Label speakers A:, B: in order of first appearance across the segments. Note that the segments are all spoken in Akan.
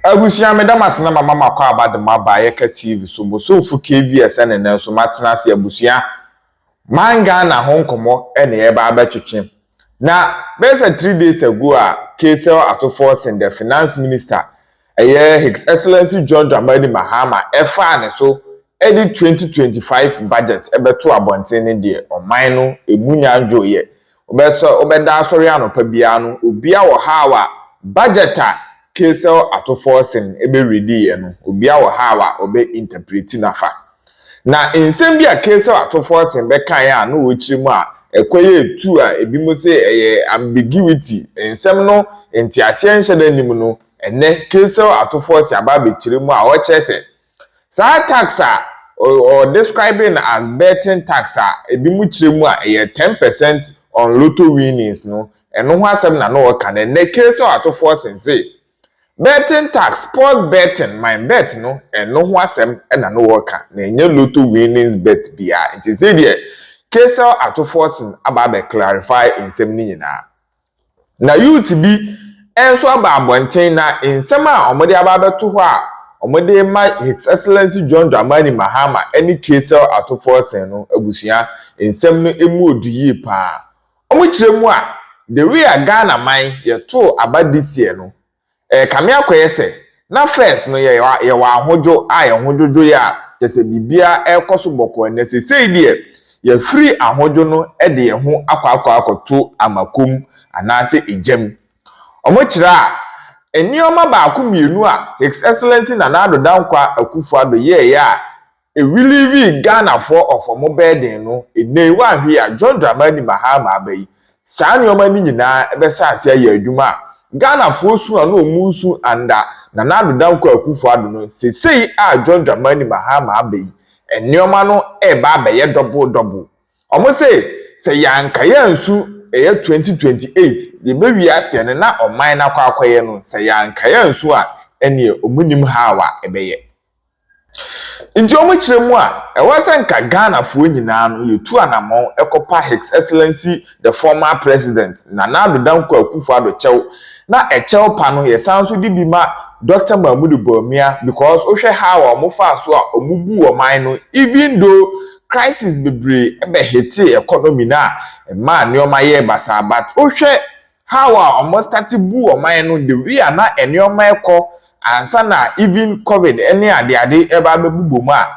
A: Abusua meda mo ase na mama makɔ aba de mo aba yɛka TV so mo somfo KVS ɛne nɛ nso matena ase abusua man Ghana ho nkɔmɔ ɛna yɛba abɛtwetwe na bɛyɛ sɛ three days ago a Kcell atofoɔ sen the finance minister ɛyɛ His Excellency John Dramani Mahama ɛfaa ne so ɛde twenty twenty five budget ɛbɛto abɔnten ne deɛ ɔman no ɛmu nya ndwoeɛ Wobɛsɔ wobɛda asɔre anɔpa biara no obia wɔ ha a wa budget a Kcell atofɔɔ sen bɛ ready yɛ no obia wɔ ha a wa ɔbɛ interpreti nafa. Na nsɛm bi a Kcell atofɔɔ sen bɛ kaeɛ a na wɔkyerɛ mu a ɛkɔ yɛ tu a ebi mo se ɛyɛ ambiguity nsɛm no nteaseɛ nhyɛda nnim no ɛnɛ Kcell atofɔɔ se aba abɛkyerɛ mu a ɔkyerɛ sɛ Saa tax a ɔ ɔ describee no as betting tax a ebinom kyerɛ mu a ɛyɛ ten percent on lotto winnings no, ɛno ho asɛm na na ɔreka no ɛnnɛ. Kay sɛ ɔatofoɔ sen sɛ betting tax, sports betting, my bet no, ɛno ho asɛm na na ɔreka na ɛnyɛ lotto winnings bet biara. Nti sei deɛ Kay sɛ atofoɔ sen aba abɛ clarify nsɛm no nyinaa. Na youth bi nso aba abɔnten na nsɛm a wɔde aba abɛto hɔ a wɔde rema His Excellency John Dramani Mahama ne K-Cell Atuforsen no abusua nsɛm no mu odu yie paa. Wɔkyerɛ mu a, the way a Ghana man yɛtoo aba this year no, Ɛrekame akɔyɛ sɛ na Fes no yɛwɔ ahodwo a ɛho dwodwoeɛ a kyerɛ sɛ biribiara rekɔ so bɔkɔɔ ɛnnɛ seesei deɛ yɛafiri ahodwo no de yɛn ho akɔ akɔ akɔto amako mu anaasɛ gya mu. Wɔkyerɛ a nneɛma baako mmienu a His Excellency Nana Addo Dankwa Akufo-Addo yɛeɛ a Ewilivii Ghanafoɔ ɔfɔ mo bɛɛ den no nnɛyi woanhwe a John Dramani Mahama aba yi saa nnoɔma no nyinaa bɛsan ase ayɛ adwuma a Ghanafoɔ su a na ɔmo nsu anda Nana Addo Dankwa Akufo Addo no sesei a John Dramani Mahama aba yi nnoɔma no reba abɛyɛ double double ɔmo se sɛ yɛanka yɛansu ɛyɛ twenty twenty eight yɛbɛwie aseɛ no na ɔman no akɔ akɔyɛ no sɛ yɛanka yɛansu a ɛneɛ ɔmo nnim how a ɛbɛyɛ. Nti wɔn kyerɛ mu a, ɛwɔ sɛ nka Ghanafoɔ nyinaa no yɛtu anamɔn kɔpa His Excellency the former President Nana Addo Dankwa Akufo Addo kyɛw na ɛkyɛw pa no yɛsan nso de bi ma Doctor Mahmood Bawumia because wohwɛ how a wɔn faa so a wɔn buu ɔman no even though crisis bebree bɛ hitee economy no a ɛmaa nneɛma yɛɛ basaa but wohwɛ How a ɔmo starte buu ɔman no, the way a na nneɛma ɛkɔ ansa na even covid ne ade ade ɛba abɛbobɔ mu a,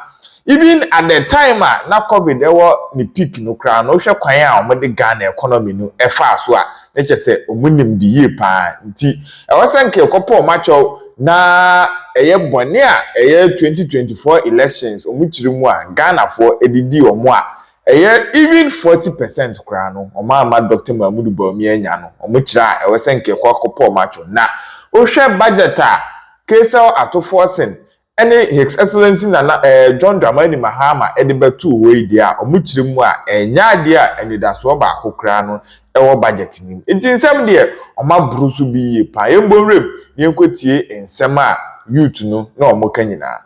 A: even at the time a na covid ɛwɔ ne peak no koraa no wohwɛ kwan a ɔmo de Ghana economy no ɛfaa so a na kyerɛ sɛ ɔmo nim de yie paa nti ɛwɔ sɛ nka yɛkɔpɛ ɔmo akyɛw na ɛyɛ bɔne a ɛyɛ twenty twenty four elections ɔmo kyiri mu a Ghanafoɔ ɛde dii ɔmo a Ɛyɛ even forty percent koraa no ɔmo amma Doctor Mahmood Bawumia anya no, ɔmo kyerɛ a ɛwɔ sɛ nka ɛkɔ akɔpɔ ɔmo atwon. Na wo hwɛ budget a Kcell atofoɔ sen ɛne His Excellency Nana eh John Dramani Mahama ɛde bɛ too hɔ yi deɛ a ɔmo kyerɛ mu a ɛnyɛ adeɛ a anidasoɔ baako koraa no ɛwɔ budget no mu. Nti nsɛm deɛ ɔmo aboro so bi yie paa. Yɛn bɔ nwura mu na yɛn kɔ tie nsɛm a youth no na ɔmo ka nyinaa.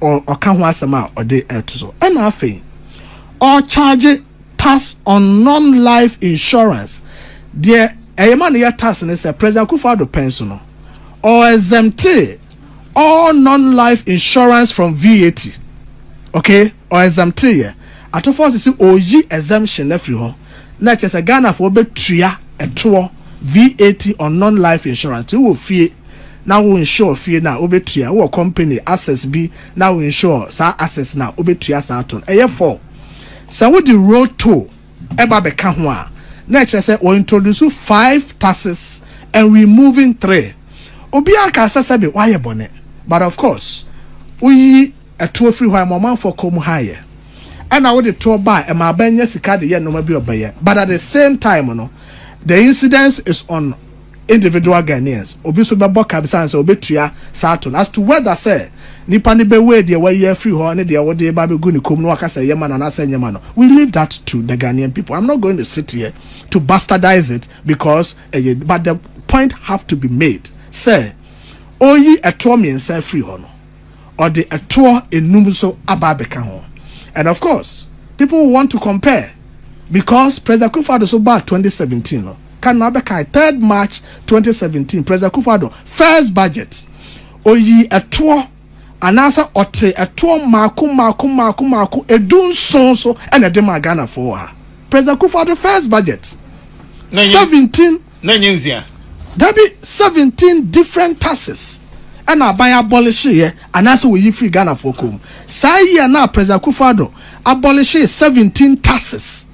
B: ɔka ho asɛm a ɔde reto so. Ɛna afei ɔrecharge tax on non-life insurance. Deɛ ɛyɛ ma no yɛ tax ne sɛ President Akufo-Addo pɛn so no, ɔexemptee all non-life insurance from VAT. Okay, ɔexemptee yɛ. Atofo ɔsese ɔreyi exemption no afiri hɔ. na kyerɛ sɛ Ghanafoɔ bɛtua ɛtoɔ, VAT, on non-life insurance. Nti wowɔ fie na wo insure fie no a, wobɛtua. Wowɔ company, access bi na wo insure saa access no a, wobɛtua saa toll. Ɛyɛ fɔɔ. Sɛ wode road toll ɛba bɛka ho a, na ɛkyerɛ sɛ wɔ introduce five taxes and removing three. Obiara nkaa sɛ sɛbe woayɛ bɔne, but of course woyi ɛtoɔ firi hɔ a, ɛma ɔmanfoɔ kɔn mu haeɛ. ɛna wode toɔ ba a ɛma bɛnyɛ sika de yɛ nnoɔma bi ɔbɛyɛ but at the same time no the incidence is on individual Ghanaians obi nso bɛbɔ ka besiane sɛ ɔbɛtua saa to no as to whether sɛ nipa no bɛwei deɛ wayi afiri hɔ ne deɛ wode ba bɛgu ne kom no waka sɛ ɛyɛ ma no anaasɛ ɛnyɛ ma no we leave that to the Ghanaian people I'm not going to sit here to bastardize it because ɛyɛ but the point have to be made sɛ ɔyi ɛtoɔ mmiɛnsa afiri hɔ no. ɔde ɛtoɔ enum nso aba abɛka ho and of course people will want to compare because President Akufo Addo so baa twenty seventeen no ka na ɔbɛkae third March twenty seventeen President Akufo Addo first budget oyii ɛtoɔ anaasɛ ɔte ɛtoɔ mmaako mmaako mmaako mmaako edu nson so ɛna ɛde maa Ghanafoɔ wɔ ha President Akufo Addo first budget seventeen na ɛnyɛ nsia. Dabi, seventeen different taxes ɛna aban abɔlehye yɛ anaasɛ wɔyi firi Ghanafoɔ kɔn mu. Saa year no a President Akufo Addo abɔlehye seventeen taxes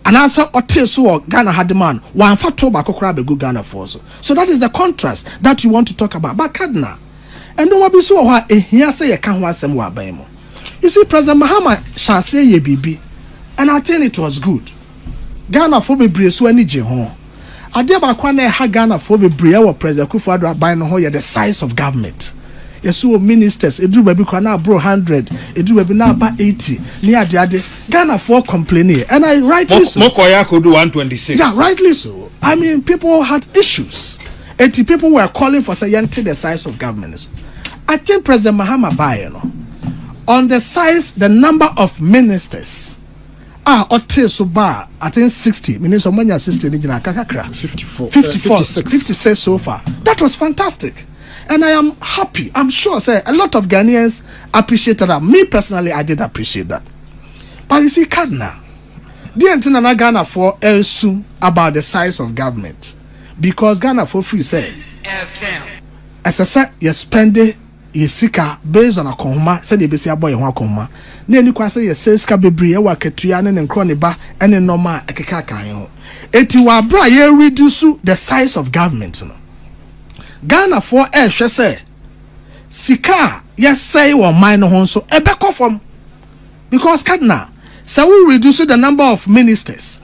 B: anaasɛ ɔtee so wɔ Ghana ha de maa no, wɔamfa toll baako koraa abɛgu Ghanafoɔ so. So that is the contrast that you want to talk about. But Cardinal, nnoɔma bi nso wɔ hɔ a ɛhia sɛ yɛka ho asɛm wɔ aban mu. You see, President Mahama hyɛ aseɛ yɛɛ biribi and I think it was good. Ghanafoɔ bebree nso ani gye ho. Adeɛ baako a na ɛha Ghanafoɔ bebree wɔ President Kufuor Addo aban no ho yɛ the size of government. Yɛse o ministers ɛduru baabi koraa na aboro hundred, ɛduru baabi na aba eighty ne adeade. Ghanafoɔ complainee and I rightly so. Mokɔeɛ akɔdu one twenty
C: six. Yeah, rightly so.
B: I mean people had issues. Eti people were calling for sɛ yɛnte the size of government so. I think President Mahama baeɛ no on the size, the number of ministers. a ɔtee so baa I think sixty menim sɛ ɔmanya sixty no gyina kakakra fifty four fifty four fifty six so far that was fantastic and I am happy I'm sure sɛ a lot of Ghanaians appreciated that me personally I did appreciate that but you see Kadna deɛ nti na na Ghanafoɔ ɛresu about the size of government because Ghanafoɔ firi sɛ ɛsɛ sɛ yɛ spende yɛ sika based on akɔnhoma sɛdeɛ yɛbɛsi abɔ yɛn ho akɔnhoma na yɛnni kwan sɛ yɛsɛe sika bebree wɔ akatua ne ne nkorɔ ne ba ne nnoɔma a ɛkekaka he ho. Nti wɔ aberɛ a yɛ reduce the size of government no, Ghanafoɔ rehwɛ sɛ sika a yɛsɛe wɔ ɔman no ho nso ɛbɛkɔ fam because Cardinal sɛ wo reduce the number of ministers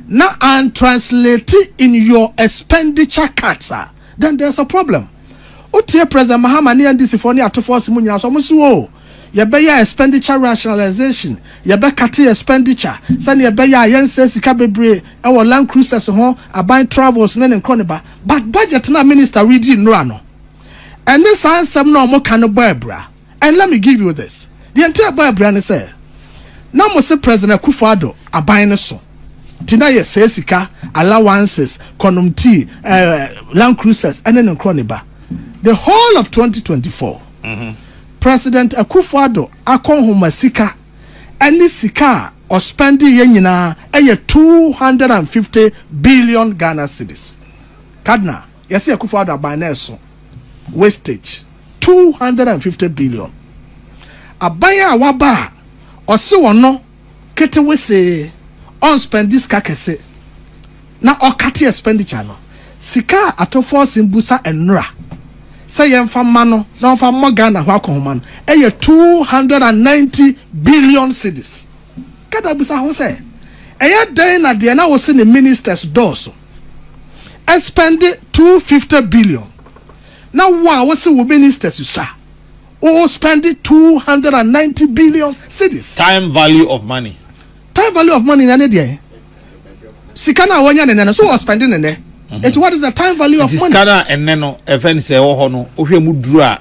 B: na untranslate in your expenditure cuts a, Then there's a problem. Wo tie President Mahama ne NDC foɔ ne atofoɔ ase mu nyinaa so ɔmo se oo yɛ bɛ yɛ expenditure rationalization, yɛ bɛ cutting expenditure sɛnea ɛbɛyɛ a yɛn sɛɛ sika bebree ɛwɔ land cruisers ho, aban travels ne ne nkorɔ ne ba. But budget no a minister redi nnura no ɛne saa nsɛm no a ɔmo ka no bɔ abira. And let me give you this, deɛ nti a ɛbɔ abira ne sɛ, na mo se President Akufo Addo aban no so nti na yɛ sɛɛ sika, allowances, kɔnom tea, eh, land cruisers ɛne ne nkorɔ ne ba. The whole of 2024, President Akufo Addo akɔ nhoma sika ɛne sika a ɔspɛnde yɛ nyinaa ɛyɛ 250 billion Ghana cedis. Cardinal. Yɛse Akufo Addo aban no ɛso wastage two hundred and fifty billion aban a waba a ɔse ɔno ketewesee ɔnspɛnde sika kɛse na ɔkate expenditure no sika a atofoɔ se busa nnura sɛ yɛnfa mma no na ɔnfa mmɔ Ghana ho akɔnhoma no ɛyɛ two hundred and ninety billion cedis kɛda busa ho sɛ ɛyɛ dɛn na deɛ na ɔse ne ministers dɔɔso spɛnde two fifty billion na wo a wose wo ministers su a wo spɛnde two hundred and ninety billion cedis. Time value of
C: money. Time value of money na
B: ne deɛ sika na wɔnyɛ ne nɛ no so wɔ spɛnde ne nɛ. Eti mhm. what is the time value of money? Sika na ɛnɛ no
C: ɛfɛn sɛ ɛwɔ hɔ no wohwɛ mu duro a.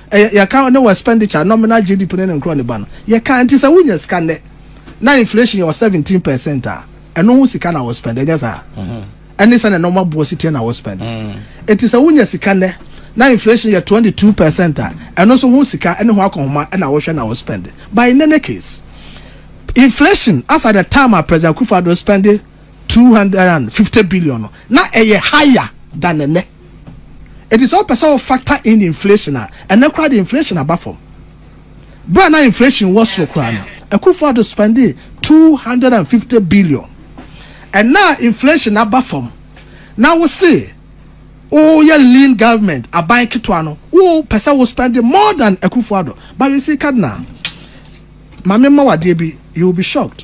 B: Ɛyɛ yɛ ka ne wɔ expenditure, nominal GDP ne ne nkorɔ ne ba no. Yɛ ka nti sɛ wo nya sika nnɛ na inflation yɛ wɔ 17 percent a, ɛno ho sika na wɔ spend, ɛnyɛ saa? Ɛne sɛ ne nɔma boɔ si teɛ na wɔ spend. Nti sɛ wo nya sika nnɛ na inflation yɛ 22 percent a, ɛno nso ho sika ne ho akɔnhoma na wo hwɛ na wɔ spend. But in any case, inflation as at the time a President Akufo-Addo spend 250 billion no, na ɛyɛ higher than ɛnɛ. Enti sɛ wopɛ sɛ wo factor in inflation a, ɛnnɛ koraa deɛ inflation aba fam. Berɛ a na inflation wɔ soro koraa no, Akufo-Addo spendee two hundred and fifty billion. Ɛnnɛ a inflation aba fam na wo se woyɛ lean government, aban ketewa no, wo pɛ sɛ wo spend more than Akufo-Addo. But you see, Cardinal, ma me mma wo adeɛ bi, you will be shocked.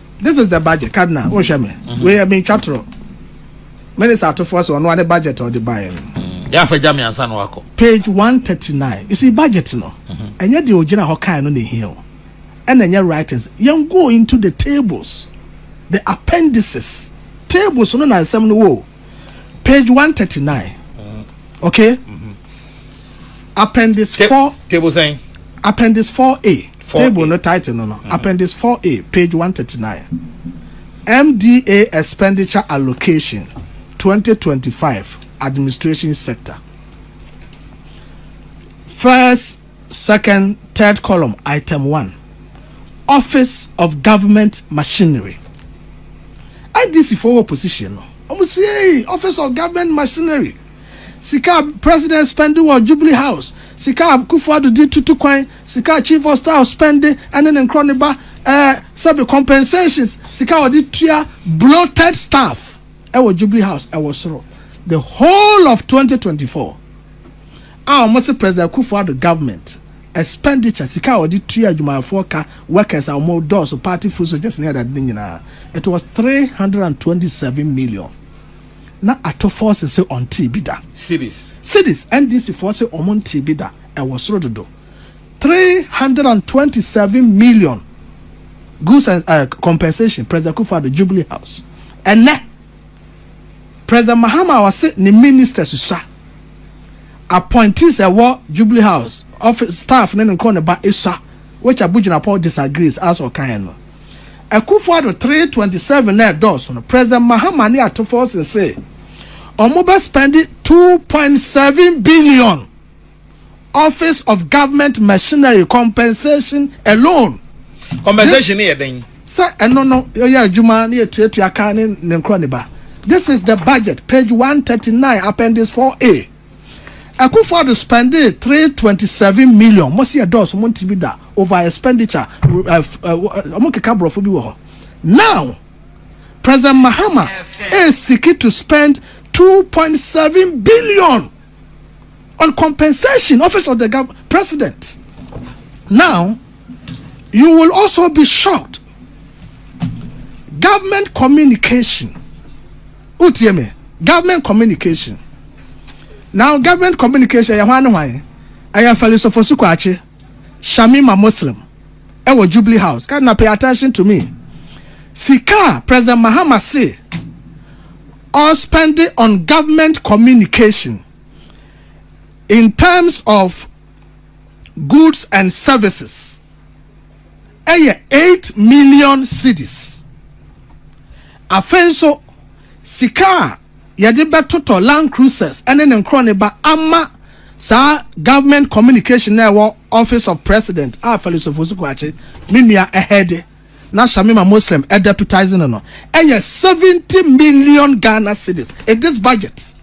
B: this is the budget cardinal o hwɛ me wei yɛ mentwa torɔ minister atofoɔ sɛ ɔno ade budget a ɔde baeɛ no yɛafa gya me
C: ansa na wakɔ page 139
B: you see budget no ɛnyɛ deɛ ɔgyina hɔ kae no na ɛhia o ɛna ɛnyɛ writings yɛn go into the tables the appendices tables no na nsɛm no wɔ page 139 okay appendix 4 table sɛn
C: appendix
B: 4a Table no title
C: no no,
B: Appendix 4A, page 139. MDA Expenditure Allocation, 2025, Administration Sector. First, second, third column, item one, Office of Government Machinery. NDC for opposition no, wɔn si hey, Office of Government Machinery. Sika president spending wɔ Jubilee House, sika Kufuor di tutu kwan Sika a Chief Hostile spɛnde ɛne ne nkorɔ ne ba ɛɛ sɛbe compensations sika a ɔde tua bloated staff ɛwɔ Jubilee House ɛwɔ soro the whole of twenty twenty four a wɔn se President Akufo Addo government expenditure sika a ɔde tua adwumayɛfoɔ ka workers a wɔn dɔɔso party foot soldiers ne adade ne nyinaa it was three hundred and twenty seven million na ato force se ɔntee bi da. Cedis. Cedis,
C: NDC foɔ
B: se wɔn ntee bi da. ɛwɔ soro dodo, three hundred and twenty seven million goods and uh, compensation president kufado jubilee house ɛnɛ president mahama ɔse ne minister susa appointees ɛwɔ jubilee house office staff ne ne nkɔ ne ba esua which abujina paul disagrees as ɔkan no akufado three twenty seven na ɛdɔɔso no president mahama ne atofo ɔse se ɔmo bɛ spend two point seven billion Office of Government Machinery Compensation Alone. Compensation
C: yɛ dɛn? Sɛ ɛno no
B: yɛ adwuma na yɛtuatua ka ne ne nkorɔ ne ba. This is the budget, page 139, appendix 4A. Akufo Addo spendee 327 million. Mo se ɛdɔɔso, mo nti bi da. Over expenditure. Ɔmo keka borɔfo bi wɔ hɔ. Now, President Mahama is seeking to spend 2.7 billion. on compensation office of the government president now you will also be shocked government communication wotie me government communication now government communication ɛyɛ hwan ne hwan ɛyɛ falisofo so kwakye shamima muslim ɛwɔ jubilee house ka na pay attention to me sika president mahama se or spending on government communication in terms of goods and services yɛ eight million cedis. Afei nso, sika a yɛde bɛtotɔ Land Cruisers ne ne nkorɔne ba ama saa government communication a ɛwɔ Office of President a Felix Ofosu-Kwakye, me nua, hɛde. na Shamima Muslim deputise no no ɛyɛ seventy million Ghana cedis in this budget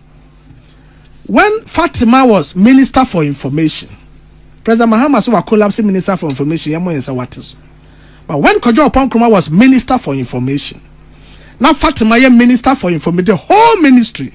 B: when Fatima was minister for information President Mahama so wa collapse minister for information yɛ mo yɛn sɛ wate so but when Kojo Oppong Nkrumah was minister for information na Fatima yɛ minister for information the whole ministry